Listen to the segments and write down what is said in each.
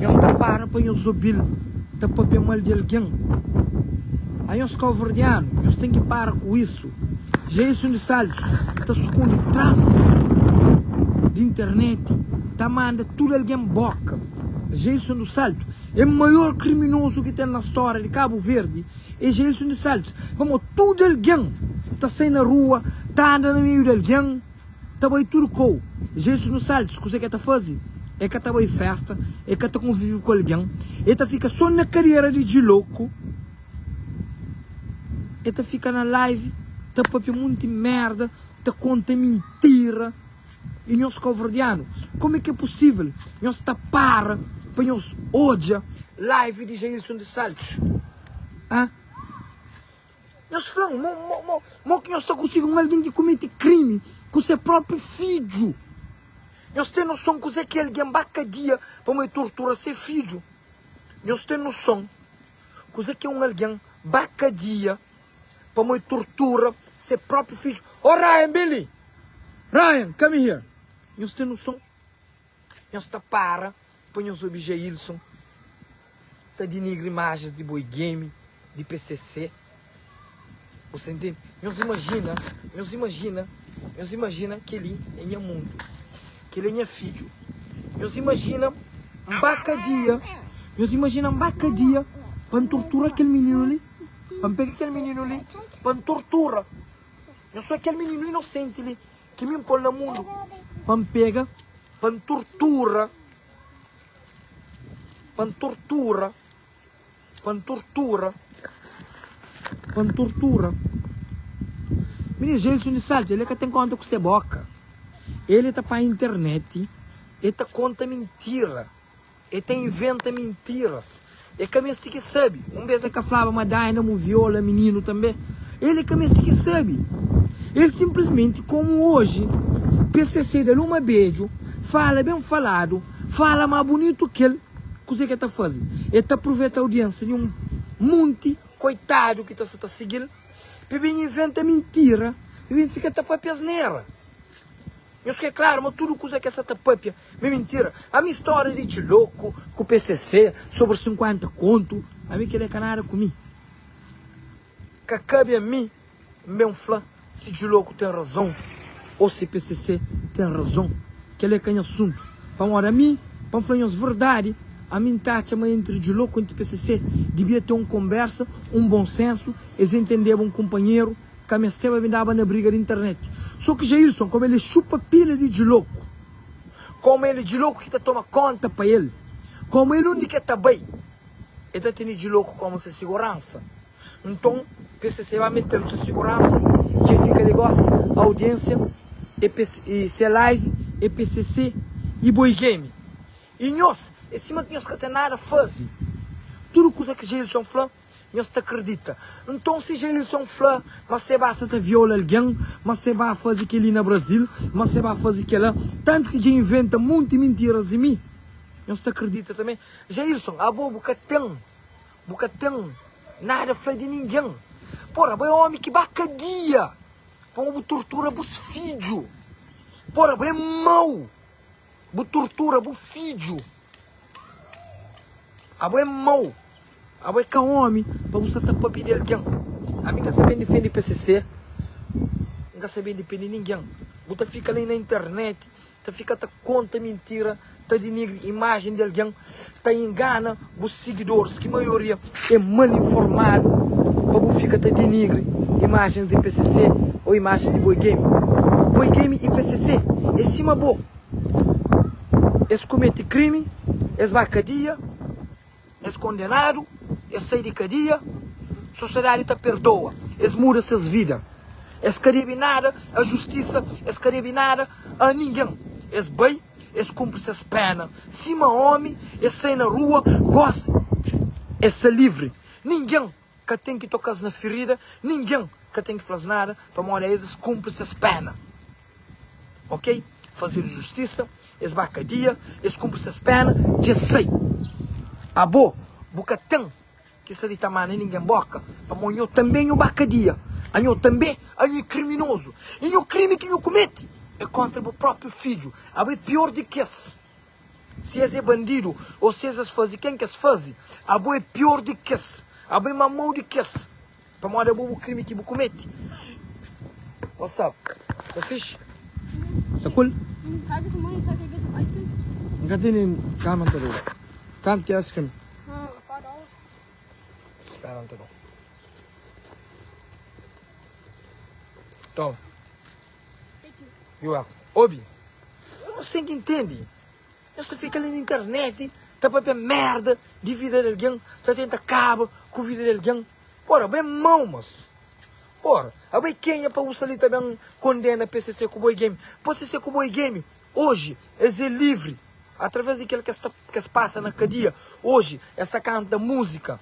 Nhos ta para pa nhos obi-l ta pâpia mal di algen? A nhos káuverdianu, nhos ten ki para ku isu! Dja é sundi sábius ta sukundi tras di interneti ta manda tudu algen bóka! Dja é sundi sábius é maior kriminozu ki ten na stória di Kabu Verdi! É dja é sundi sábius pamodi tudu algen ta sai na rua ta anda na meiu di algen! Ta bai tudu kau jesu nu saltis kusa ke ta fazi e ka ta bai festa e ka ta konvivi ku algen e ta fika so na kadera di djiloku e ta fika na live ta papia munti merda ta konta mintira e nhos kauverdianu kome ke pusivel nhos ta para pa nhos odja live di jailson de saltis ah. Nhos fla-m, mo, mo, mo, mo ki nhos ta konsigi un algen ki kumete krimi ku se propi fidju? Nhos ten noson kuzé ki algen ba kadia pamô e tortura se fidju? Nhos ten noson kuzé ki un algen ba kadia pamô e tortura se propi fidju? Ô Ryan, ben li! Ryan, come here! Nhos ten noson? Nhos ta para pa nhos obi Jailson ta dinigri imajens di Boi Game, di pcc. Bu sta intendi? Nhos imajina, nhos imajina, nhos imajina kel-li é nha mundu, kel-li é nha fidju. Nhos imajina N ba kadia, nhos imajina N ba kadia pa N tortura kel mininu li, pa N pega kel mininu li pa N tortura. Nhos fla kel mininu inosenti li. Ki mi N pô-l na mundu. Pa N pega, pa N tortura, pa N tortura, pa N tortura, pa N tortura. Mine Gelson di Salta, ele ka ten konta ku se boka. Ele ta pa internet, e ta konta mintira. E ta inventa mintiras. E ka meste ki sabe. Un bes e ka flaba ma Daina mu viola mininu tambe. El e ka meste ki sabe. El simplismenti komu oji pcc da luma bedju fala ben faladu fala ma bunitu kel kuse ke ta faze. E ta pruveta audiensa di un munti koitadu ki ta sa ta sigil pe ben inventa mintira pe ben fika ta papia asnera. Nhos ke klaru ma tudu kuza ke sa ta papia me mintira? Ami storia de tchiloku ku pcc sobri 50 kontu ami kele ka nada ku mi. Ka kabi ami N ben fla si tchiloku ten razon o si pcc ten razon. Kele ka nha asuntu. Pamodi ami, pa N fla nhos verdadi, ami N ta atxa ma entri tchiloku entri pcc dibia ten un konbersa, un bon sensu, es entendeba un konpanheru, Ka mesteba mi daba na briga di internet. So ki Jailson komu el e xupa pila di djiloku. Komu el e djiloku ki ta toma konta pa el. Komu el undi ki el ta bai el ta tene djiloku komu se siguransa. Nton pcc ba metel ku se siguransa dje fika Lagos audiensia e se live e pcc e boi game. E nhos e sima ki nhos ka ten nada fazi. Tudu kusa ki Jailson fla. Nhos ta kridita? Nton si Jailson fla ma se ba sa ta viola algen, ma se ba faze kel-li na Brazil, ma se ba faze kel-la, tantu ki dja inventa monti mintiras di mi, nhos ta kridita tanbê? Jailson, abo bu ka ten, bu ka ten nada fla di ningen. Pora, abo é ómi ki ba kadia pamodi bu tortura bus fidju. Pora, abo é mau, bu tortura bu fidju. Abo é mau, abo é ka omi pa bu sta ta papia di algen. Ami nka sa ben difende pcc, nka sa ben dipende ningen. Bu ta fika la na internet ta fika ta konta mintira, ta dinigri imajen di algen, ta ingana bu sigidoris ki maioria é mal informadu pa bu fika ta dinigri imajen di pcc o imajen di Boi Game. Boi Game y pcc é sima bo. es komete krimi, es ba kadia, es kondenadu, es sai di kadia, sosiadadi ta perdoa, es muda ses vida, es ka debe nada a justisa, es ka debe nada a ningen, es bai, es kunpri ses pena sima omi, es sai na rua, gosi, es sai livri, ningen Ka ten ki toka-s na firida, ningen ka ten ki fla-s nada, pamodi a es es kunpri ses péna. Ok, fazedu justisa, es ba kadia, es kunpri ses péna, dja es sai. Abo, bu ka ten ki sta di ta manda ningen bóka, pamodi nho tanbe nho ba kadia, anho tanbe anho é kriminozu, i nho krimi ki nho kumete é kóntra bu própi fidju, abo é pior di ki es. Si es é bandidu ô si es es faze ken ki es faze, abo é pior di kes, abo é má mau di kes, pamodi abo bu krimi ki bu kumete. What's up? Sa fixe? Sa cool? N ka tene kama, N ta doba. Kantu ki é ice cream? Spera, N ta doba. Toma. Yo a obi. Yo no sem intendi. Yo sa fika li na interneti ta papia merda di vida di algin, ta tenta kaba ku vida di algin. Ora, bo e mau mosu. Ora, abo e kenha pa usa li ta ben kondena PCC ku bo e Gemi. PCC ku bo e Gemi, oji es e livri atraves di kel ke sta, ke es pasa na kadia. Oji es ta kanta musika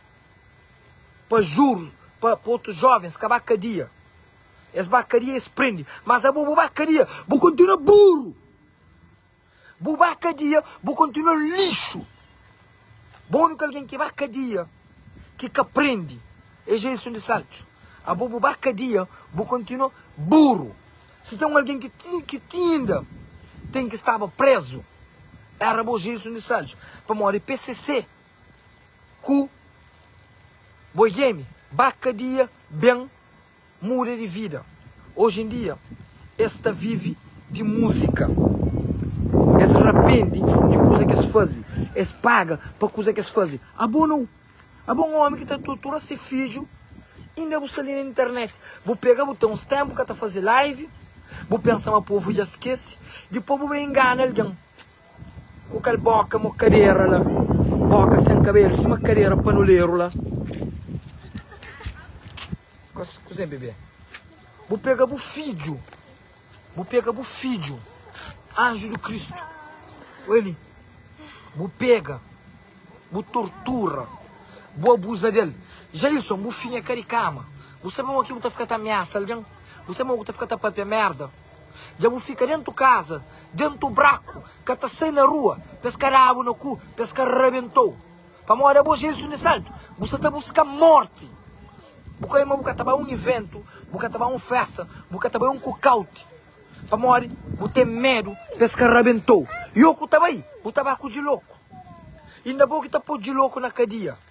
pa jur, pa otus jovens kaba kadia. Es ba kadia es prende mas abo bu ba kadia bu kontinua buru bu ba kadia bu kontinua lixu bo uniku algen ki ba kadia ki ka prende es é insun di saltxu abo bu ba kadia bu kontinua buru si ten un algen ki tin ki tin inda ten ki staba prezu era bo ja é insun di saltxu pamodi pcc ku boi gemi ba kadia ben muda di vida oji en dia es ta vivi di musika es rapendi di kuza kes fazi es paga pa kuza kes fazi abo nau abo un omi ki ta tortura se fidju inda bu sta li na internet bu pega bu ten uns tempu ka ta fazi live bu pensa ma povu dja skesi dipoi bu ben ingana algen Ku kel boka mo kadera la Boka sen kabelu sima kadera panuleru la Kuze bebe Bu pega bu fidju Bu pega bu fidju Anju di Kristu Oi li Bu pega Bu tortura Bu abuza del Jailson bu finha ka di kama Bu sabe mo ki bu ta fika ta ameasa algen Bu sabe mo ki bu ta fika ta papia merda. Dja bu fika dentu kaza, dentu braku, ka ta sai na rua, pa es ka da-bu na ku, pa es ka rabenta-u. Pamodi abo Jezus di Nasaretu, bu sa ta buska morti. Bu ka oja ma bu ka ta bai un iventu, bu ka ta bai un festa, bu ka ta bai un kukauti, pamodi bu ten medu pa es ka rabenta-u. Yo ku ta bai, bu ta bai ku djiloku, inda bo ki ta po djiloku na kadia.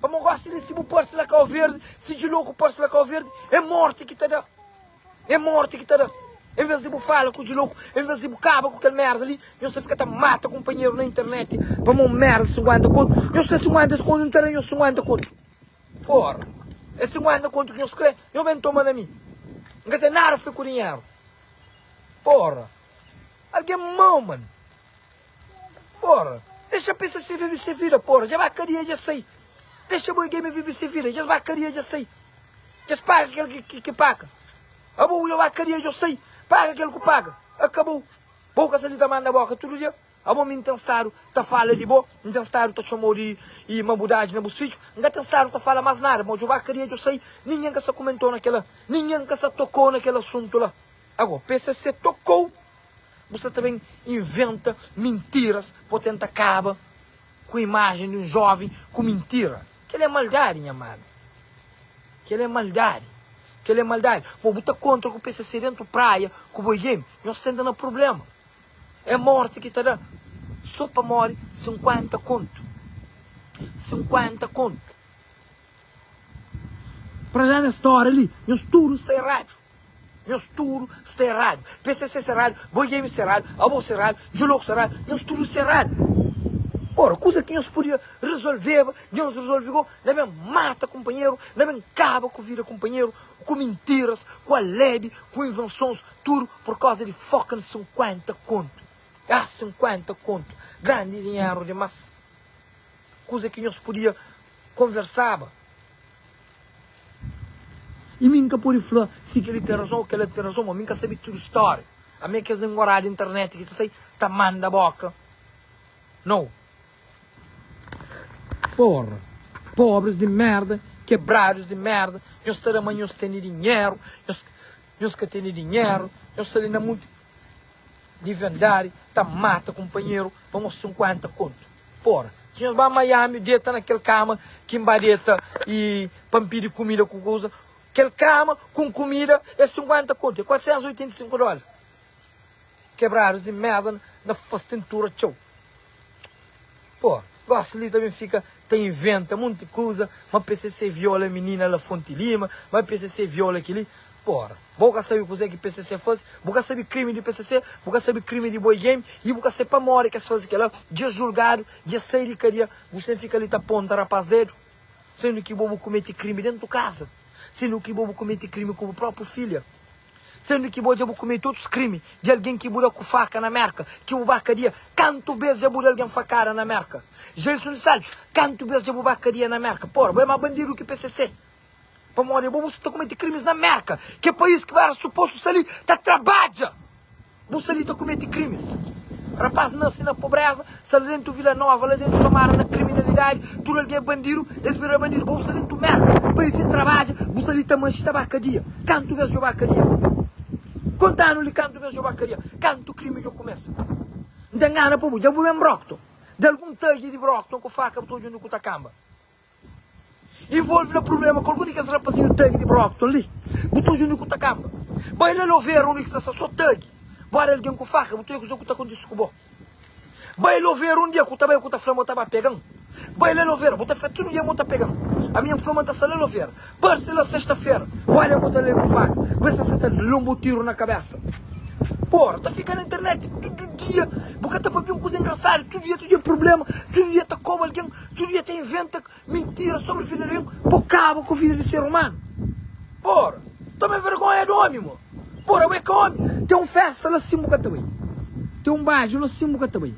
Pamo gosta de si bu parse la cau verde si de louco parse la cau verde é morte ki ta da é morte ki ta da em vez de bu fala ku de louco em vez de bu caba ku kel merda li nhos ta fica ta mata companheiro na internet pamo um merda de 50 conto nhos crê 50 conto não ta da nhos 50 conto porra é 50 conto ki nhos crê nhos bem toma na mi em ka tem nada fê ku dinheiro porra alguém mau mano. Pora Dexa pcc vive se vida Pora Dja ba kadia dja sai Dexa boi gamer vive se vida Dja ba kadia dja sai Dja paga kel ki paga Abo bo dja ba kadia djo sai Paga kel ku paga Akabou Bo ka sa li ta manda boka tudu dia Abo mi n ten stadu ta fala di bo N ten stadu ta txomau di mabudadis na bus fidju N ka ten stadu ta fala mas nada Mo dja ba kadia djo sai Ninhen ka sa kumentou na kela Ninhen ka sa tokou na kel asuntu la Ago pcc tokou Bu sta ta ben inventa mintiras pa bu tenta kaba ku imajen di un joven ku mintira. Kela é maldadi, nha amadu. Kela é maldadi. Kela é maldadi. Bo bu ta kontra ku pcc dentu praia ku boi game, nhos senta na prublema. É morti ki ta da so pa mori 50 kontu. 50 kontu. Pra la na stora li, nhos tudu sta eradu. Nhos tudu sta erradu. Pcc serradu, Boy Game serradu, Abo serradu, Djo Loco serradu, nhos tudu serradu. Ora, kuza ki nhos podia resolveba, dja nhos resolve go, na ben mata kunpanheru, na ben kaba ku vida kunpanheru, ku mintiras, ku alebe, ku invensons, tudu pur koza di fucking 50 kontu. Ah, 50 kontu, grandi dinheru dimas. Kuza ki nhos podia konversaba. I mi N ka pode fla si kel-li ten razon ô kel-la ten razon, ma mi N ka sabe tudu stória. Ami é kes engorá di internet ki ta sai ta manda bóka. Nau! Pórra! Pobris di mérda, kebradus di mérda, nhos ta da ma nhos tene dinheru, nhos ka tene dinheru, nhos sta li na monti. Di verdadi ta mata kunpanheru pa nos 50 kontu pora si nhos ba miami deta na kel kama ki n ba deta y pa n pidi kumida ku kuza kel kama ku kumida é 50 kontu é 485 dola kebradus di merda na fas tintura txeu. Bo gosta li ta ben fika ta inventa monti kuza ma pcc viola minina la fonte lima ma pcc viola kili ora bo ka sabe kuzé ki pcc faze bu ka sabe krimi di pcc bu ka sabe krimi di boi game i bu ka sabe pamodi ki es faze kela dja es julgadu dja es sai di kadia bu sen fika li ta ponta rapaz dedu sendu ki bo bu komete krimi dentu kaza sendu ki bo bu komete krimi ku bu propi filha. Sendu ki bo dja bu kumete otus krimi di algen ki bu da ku faka na Merka, ki bu ba kadia? Kantu bes dja bu da algen fakada na Merka? Gelson di Saltxu, Kantu bes dja bu ba kadia na Merka? Pora, bo é ma bandidu ki PCC. Pamodi bo bu sta kumete krimis na Merka, ki é pais ki bu era supostu sta li ta trabadja. Bu sta li ta kumeti krimis. Rapaz nase na pobreza, sa la dentu Vila Nova, la dentu samara na kriminalidadi, tudu algen é bandidu, es bira bandidu, bo bu sta dentu merda, país sen trabadja, bu sta li ta manxi ta ba kadia. Kantu mes djo ba kadia? Kontanu li kantu mes djo ba kadia? Kantu krimi djo kumesa? N ta ngana pa bu, dja bu ben brokton, dalgun tadja di brokton ku faka bu ta odja undi ku ta kanba. Involve na problema ku algun di kes rapazinhu tagi di Brockton li. Bu ta oja undi ku ta kanba. Bai la lou vera undi ki ta sta so tagi. Bu ora algen ku faka, bu ta oja kusa ku ta kontisi ku bo. Bai lou vera undi e ku ta bai ku ta fla ma bu ta ba pegan. Bai la lou vera, bu ta fla tudu dia ma bu ta pegan. Aminha bu fla ma ta sta la lou vera. Parse la sesta-fera, bu ora e ku ta lei ku faka. Bu bai sta sa ta lon bo tiru na kabesa. Bu ora ta fika na internet tudu dia. Bu ka ta papia un kuza engrasadu. Tudu dia ta oja problema. Tudu dia ta koba algen. Tudu dia ta inventa mintira sobri vida di algen pa kaba ku vida di ser umanu. Ora, toma vergonha di omi, mo. Ora, bu é ka omi. Ten un festa la sin bu ka ta bai. Ten un baju la sin bu ka ta bai.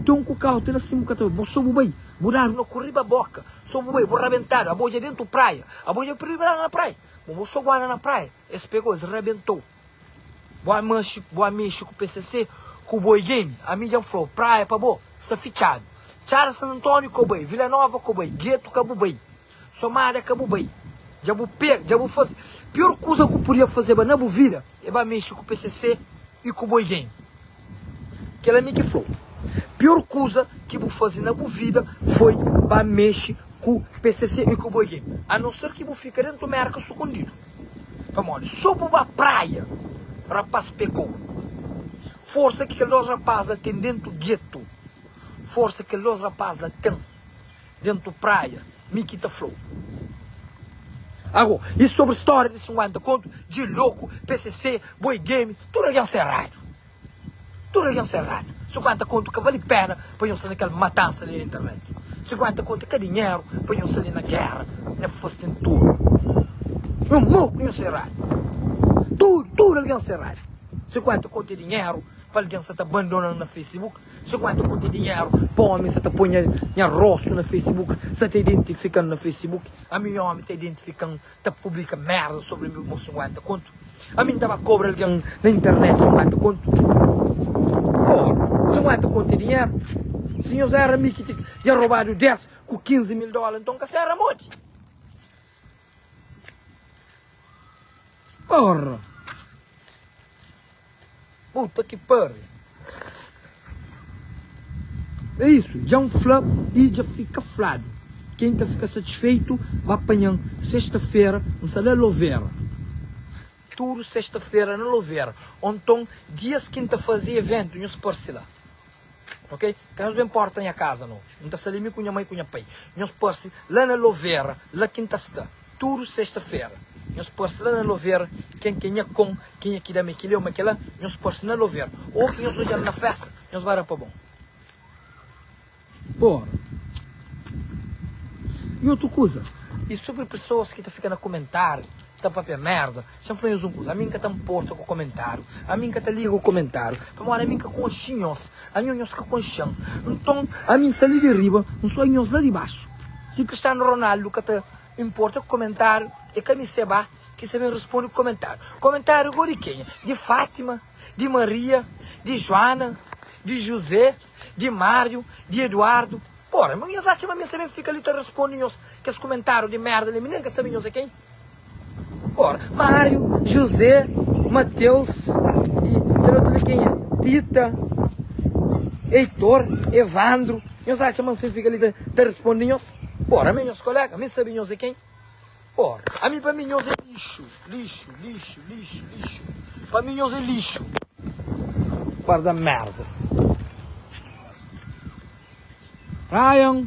Ten un kukauti la sin bu ka ta bai. Bo so bu bai, bu dadu na ku riba boka. So bu bai, bu rabentadu. Abo dja dentu praia. Abo dja pribradu na praia. Mo, bo so guarda na praia. Es pegou, es rabentou. Bua manxi bua mexi ku pcc ku boi game ami djan flau praia pa bo sa fitxadu txara san antoniu ka bai vila nova ka bai guetu ka bu bai somada ka bu bai dja bu pega dja bu faze pior kuza ku podia fazeba na bu vida e ba mexi ku pcc e ku boi game kela mi ki flau pior kuza ki bu faze na bu vida foi ba mexi ku pcc e ku boi game a não ser ki bu fika dentu merka sukundidu. Pamodi so bu ba praia rapaz pekô Forsa ki kel dos rapaz la ten dentu getu Forsa ki kel dos rapaz la ten dentu praia Mi ki ta fla-u Ago i sobri storia di 50 kontu Dje loku, pcc, boi game Tudu algen serradu. Tudu algen sta eradu. 50 kontu ka vale pena pa nho sta na kel matansa li na internet. 50 kontu ka dinheru pa nho sta li na guerra, na fostin turma. Nho mau ku nho sta eradu. Tudu, tudu algen sta eradu. 50 kontu e dinheru pa algen sta ta bandona-m na facebook. 50 kontu e dinheru pa omi sta ta poi nha rostu na facebook, sta ta identifika-m na facebook. Ami omi ta identifika-m ta publika merda sobri mi bo sinkuenta kontu ami n ta ba kobra algen na internet sinkuenta kontu oh sinkuenta kontu é dinheru si nhos éra mi ki dja robadu dés ku kinzi mil dóla nton ka sera modi porra. Puta ki pariu. É isu, dja N fla i dja fika fladu, ken ka fika satisfeitu ba panha-m sesta-fera N sta la Lovera. Tudu sesta-fera na Lovera, ô nton dias ki N ta faze eventu nhos parse la. Ok ka nhos ben porta nha kaza no N ta sta li mi ku nha mai ku nha pai Nhos parse la na lovera la ki N ta sta Tudu sesta fera Nhos parse la na lovera Ken ke nha kon Ken e ki da me kile o me kela Nhos parse na lovera O ki nhos odja-m na festa Nhos ba da pa bon Por I otu kuza I supri pesoas ki ta fika na kumentariu Ta papia merda Dja fla nhos un kuza, ami N ka ta nporta ku komentáriu, ami N ka ta liga ku komentáriu, pamodi ami N ka konxe nhos, ami ô nhos ka konxe-m. Nton, ami N sali di riba, N soi nhos la di baxu. Si Cristiano Ronaldo ka ta nporta ku komentáriu, é ka mi Seba ki sta ben responde ku komentáriu. Komentáriu gó di kenha? Di Fátima? Di Maria? Di Juana? Di Juzé? Di Máriu? Di Eduardo? Ora, nhos atxa ma mi N sta ben fika li ta responde nhos kes komentáriu di merda li? Mi nen ka sabe nhos é ken. Ora, Máriu, Juzé, Mateus i kel otu li kenha? Tita, Eitor, Evandru. Nhos atxa ma nsin fika li ta responde nhos? Ora, ami é nhos koléga, ami sabe nhos é ken? Ora, ami pa mi nhos é lixu, lixu, lixu, lixu, lixu. Pa mi nhos é lixu. Par da merdas. Ryan.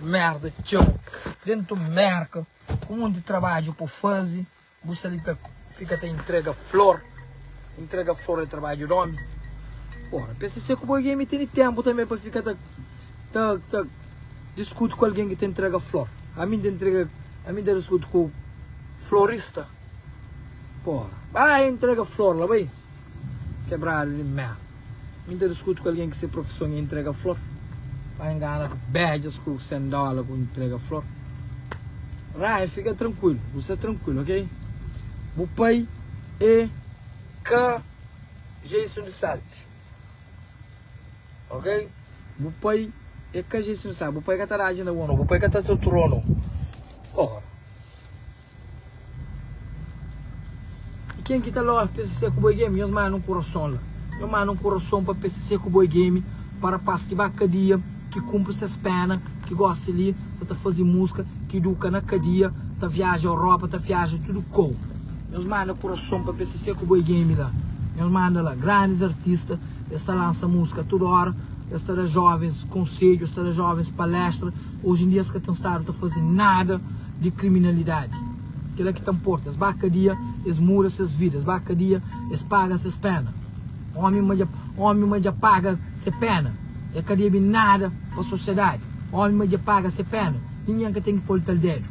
Merda txeu dentu Merka ku monti trabadju pa fazi bu sta li ta fika ta intrega flor intrega flor é trabadju di omi ora pcc ku bo algen mi tene tenpu tanbe pa fika ta ta ta diskuti ku algen ki ta intrega flor ami n ta intrega ami n ta diskuti ku florista ora bai intrega flor la bai. Kebradu di mea. Mi ta diskuti ku algen ki se profison é intrega flor. Pa engana ku bedjas ku sen dola ku intrega flor. Ryan, fika trankuilu, bu sta trankuilu, ok? Bu pai é ka Jason di Sarte, ok? Bu pai é ka Jason di Sarte. Bu pai ka ta da djinda bo no. Bu pai ka ta tortura-u no. Oha! E ken ki ta love pcc ku boi game nhos manda un kurason la nhos manda un kurason pa pcc ku boi game pa rapaz ki ba kadia ki kunpri ses pena ki gosi li sa ta fazi muska ki duka na kadia ta viaja europa ta viaja tudu kou nhos manda kurason pa pcc ku boi game la nhos manda la grandis artista es ta lansa muska tudu ora es ta da jovens konsedju es ta da jovens palestra Oji en dia es ka ten stadu ta faze nada di kriminalidadi. Kela ki ta nporta, es ba kadia, es muda ses vida, es ba kadia, es paga ses pena. Omi ma dja, omi ma dja paga se pena, e ka debe nada pa sosiadadi. Omi ma dja paga se pena, ningen ka ten ki pol tal dedu.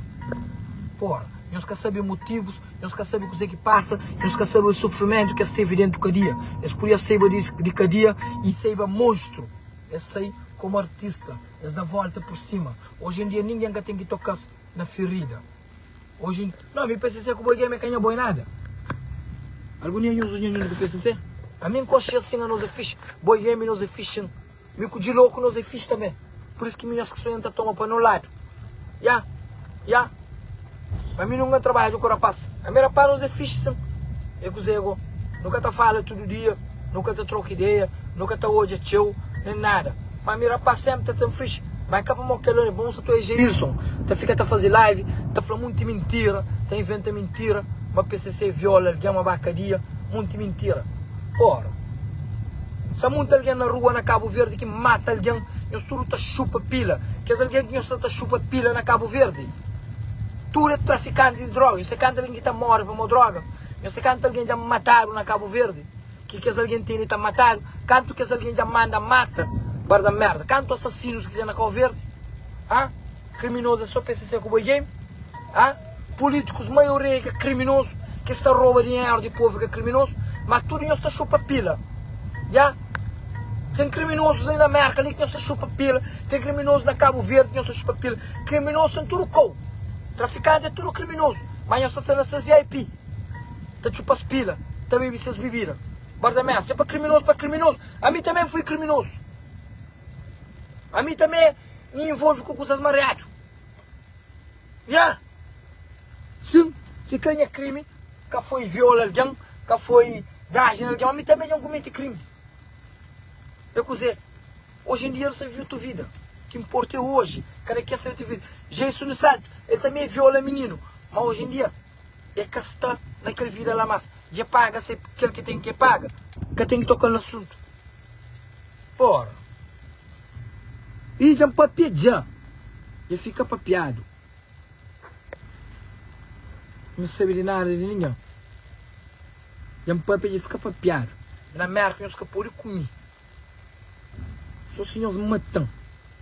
Pora, nhos ka sabe motivus, nhos ka sabe kuzê ki pasa, nhos ka sabe sufrimentu ki es tevi dentu kadia. Es pudia saiba di kadia y saiba monstru. Es sai komu artista. Es da volta por sima. Hoje em dia ninguém ka tem que tocar na ferida. Hoje em... Não, me PCC com boi game canha boi nada. Algum dia eu uso dinheiro do PCC? A mim coxa assim a nós é fixe. Boi game nós é fixe. Me com de louco nós é fixe também. Por isso que minhas que sonham tá toma para no lado. Ya, yeah, ya. Yeah. Ma mi nunka trabadja ku rapás Ami rapás nos é fixi sin É kuzé gó Nu ka ta fala tudu dia Nu ka ta troka ideia Nu ka ta odja txeu Nen nada Ma ami rapás sénpri ta ten fixi Ma é ka pamó kel la bon Sa ta é Jailson Ta fika ta faze live Ta fla monti mintira Ta inventa mintira Ma pcc viola algen Ma ba kadia Monti mintira Ora Sa monti algen na rua na Cabo Verde Ki mata algen Nhos tudu ta xupa pila Kes algen ki nhos sa ta xupa pila na Cabo Verde. Tudu é trafikanti di droga. Nhos sa kantu algen ki ta móre pamó droga? Nhos sa kantu algen dja matadu na Kabu Verdi? Ki kes algen tene ta matadu? Kantu kes algen dja manda mata? Barda merda. Kantu asasinus ki ten na Kabu Verdi? Ha? Kriminozu é sô pcc ku boi game? Ha? Pulitikus maioria é ka kriminozu? Kes ta roba dinheru di povu é ka kriminozu? Ma tudu nhos ta xupa pila. Ya. Ten kriminozus li na Merka li ki nhos ta xupa pila. Ten kriminozus na Kabu Verdi ki nhos ta xupa pila. Kriminozu ten tudu kau. Trafikanti é tudu kriminozu. Má nhos ta sta na ses vip, ta txupa-s pila, ta bebe ses bebida. Bardameas, Se pa kriminozu pa kriminozu, ami tanbê N foi kriminozu. Ami tanbê N involve ku kuzas mariadu. Nha! Sin, si ka nha krimi ka foi viola algen, ka foi daji na algen, má ami tanbê dja N kumete krimi. É kuzê? Oji en dia nu sta vive tu vida ki nporta é oji kada ken sabe tu vida Jeisu nu santu el ta me viola mininu ma oji en dia el ka sta na kel vida la mas dja paga se kel ki ten ke paga ka ten ki tokal na asuntu ora i dja npapia dja dja fika papiadu nu sabe di nada di ningen dja npapia dja fika papiadu na merka nhos ka podi kumi. Só si nhos mata-m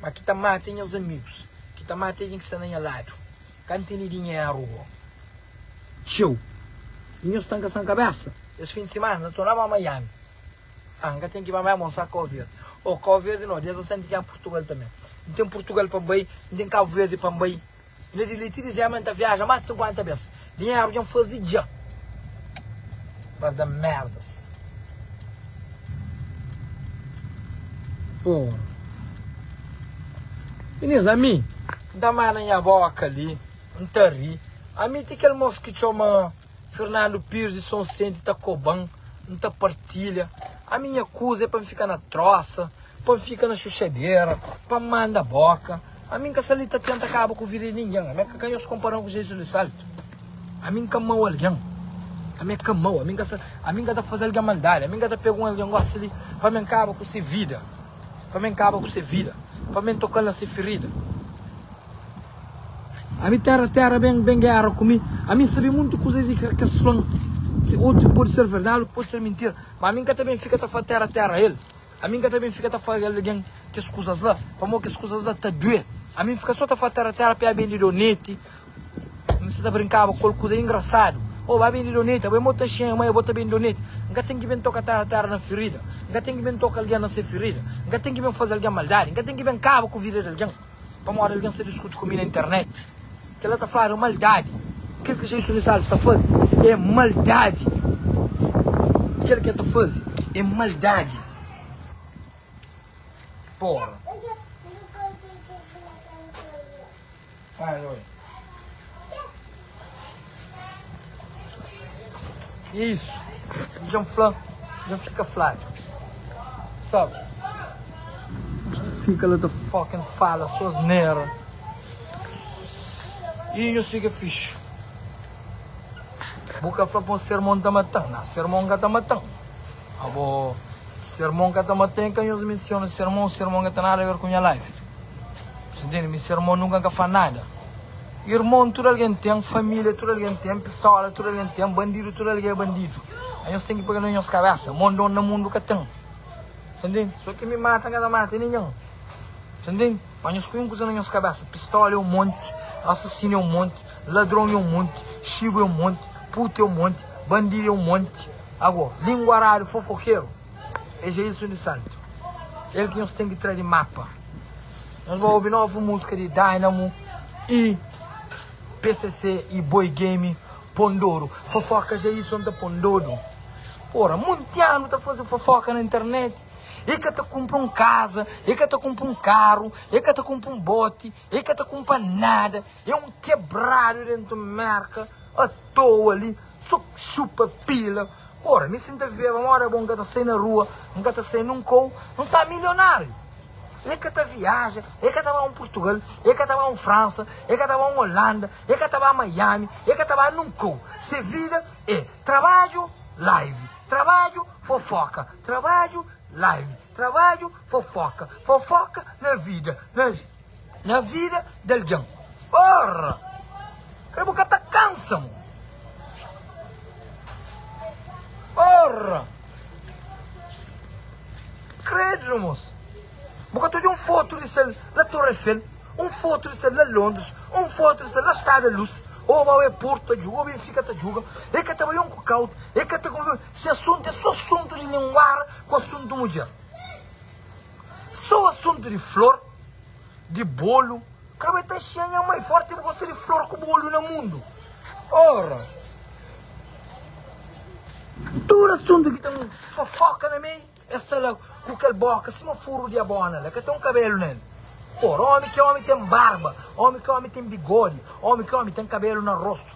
ma ki ta mata é nhas amigus, ki ta mata é algen ki sta na nha ladu. Ka N tene dinheru ô txeu. I nhos sta N ka san kabésa? Es fin di simana N ta na ba Miami. Aa N ka ten ki ba Miami, N sta Kau Verdi. Ô Kau Verdi nau, dia 17 N ta ki na Purtugal tanbe. N ten Purtugal pa N bai, N ten Kabu Verdi pa N bai. Ilha di Liti dizeba ma N ta viaja más di 50 bes. Dinheru dja N faze dja pa da merdas. Pô, minis, ami N ta mana nha boka li, N ta ri. Ami ti kel mosu ki txoma Fernando Pires di Son Sente ta koba-m, N ta partilha. Ami nha kuza é pa N fika na trósa, pa N fika na xuxadera, pa N manda boka. Ami n ka sta li ta tenta kaba ku vida di ningen. Ami ka kanhoso konparan ku Jesus di saltu. Ami n ka mau algen. Ami ka mau. Ami n ka sta, ami n ka ta fase algen maldadi. Ami n ka ta pega un algen gosi li pa ami n kaba ku se vida, pa ami n kaba ku se vida, pa ami n tokal na se ferida. Ami tera tera ben ben gera ku mi. Ami n sabe muntu kuza di ke kes flan. Se utru pudi ser verdadi, utru pudi ser mintira. Ma ami n ka ta ben fika ta fla tera tera el. Ami n ka ta ben fika ta fla algen kes kuzas la, pamó kes kuzas la ta duê. Ami n fika sô ta fla tera-tera pa e ben di doneti, n sta ta brinkaba ku el kuza ingrasadu, Ô, ba ben di doneti, abo é mo ta xinha, ma é bo ta ben di doneti. N ka ten ki ben toka tera-tera na firida, n ka ten ki ben toka algen na se firida, n ka ten ki ben faze algen maldadi, n ka ten ki ben kaba ku vida di algen. Pamodi algen sta diskuti ku mi na internet, kel-la ta fladu é maldadi. Kel ki Jesus di Salus ta faze é maldadi. Kel ki el ta faze é maldadi. Pora. Pai, anda oi. E é isu. Ki dja N fla, dja fika fladu. Sabe? Nhos ta fika la ta fucking fala sô asnera. I nhos fika fixu. Bo ka fla pa un ser mon ta mata-m. Nah, ser mon ka ta mata-m. Abo, ser mon ka ta mata-m. E ka nhos mensiona ser mon. Ser mon ka ten nada a ver ku nha life. Bo ta intende? Mi ser mon nunka N ka fla nada. Irmon tudu algen ten, família tudu algen ten, pistola tudu algen ten, bandidu tudu algen é bandidu. Nhos ten ki pega na nhos kabésa, mon don na mundu ka ten. Ta ntende? So ki mi mata, N ka ta mata ningen. Ta ntende? Má nhos poi un kuza na nhos kabésa, pistola é un monti, asasinu é un monti, ladron é un monti, xibu é un monti, puta é un monti, bandidu é un monti. Ago, linguaradu, fofokeru, é Jailson Di Salto. El ki nhos ten ki tra di mapa. Nos ba obi novu muska di Dynamo y PCC y Boy Game pon dodu. Fofoka ja i son ta pon dodu. Ora, munti anu ta faze fofoka na internet. E ka ta kunpra un kaza, e ka ta kunpra un karu, e ka ta kunpra un boti, e ka ta kunpra nada. E un kebradu dentu Merka atoa li. Só txupa pila Ora mi si n ta vieba Mó da bo n ka ta sai na rua N ka ta sai nunka Ou n sa milionáriu E ka ta viaja E ka ta ba un Purtugal E ka ta ba un Fransa E ka ta ba un Olanda E ka ta ba Miami E ka ta ba nunka Ou se vida e trabadju Live trabadju Fofóka trabadju Live. Trabadju, fofoka, fofoka na vida, na na vida d'algen. Porra! K'é bu ka ta kansa mo? Porra! Credo mos! Bu ka ta odja un foto di sel na Torre Eiffel, un foto di sel na Londres, un foto di sel na Stade da Luz, ô mau é Porto ta djuga, ô Benfica ta djuga, é ka ta bai un ku ka otu, é ka ta. Si assunto é so assunto di linguara. ku asuntu mudjer. Sô asuntu di flor, di bolu, kre bai ta xia nha mai forti bu gosta di flor ku bolu na mundu. Ora, tudu asuntu ki ta nu fofoka na mei, es ta la ku kel boka sima furu di abona la ka ten un kabelu na el. Ora, omi ki omi ten barba, omi ki omi ten bigodi, omi ki omi ten kabelu na rostu,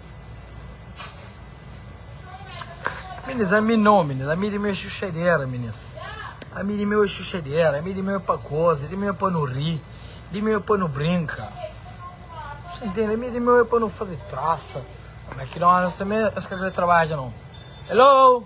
Minis, ami nau minis, ami di meu é xuxadera minis, ami di meu é xuxadera, ami di meu é pa goza, di meu é pa nu ri, di meu é pa nu brinka, cê entende, ami di meu é pa nu faze traça, ma ki óras tanbe es ka krê trabadja nau, hello!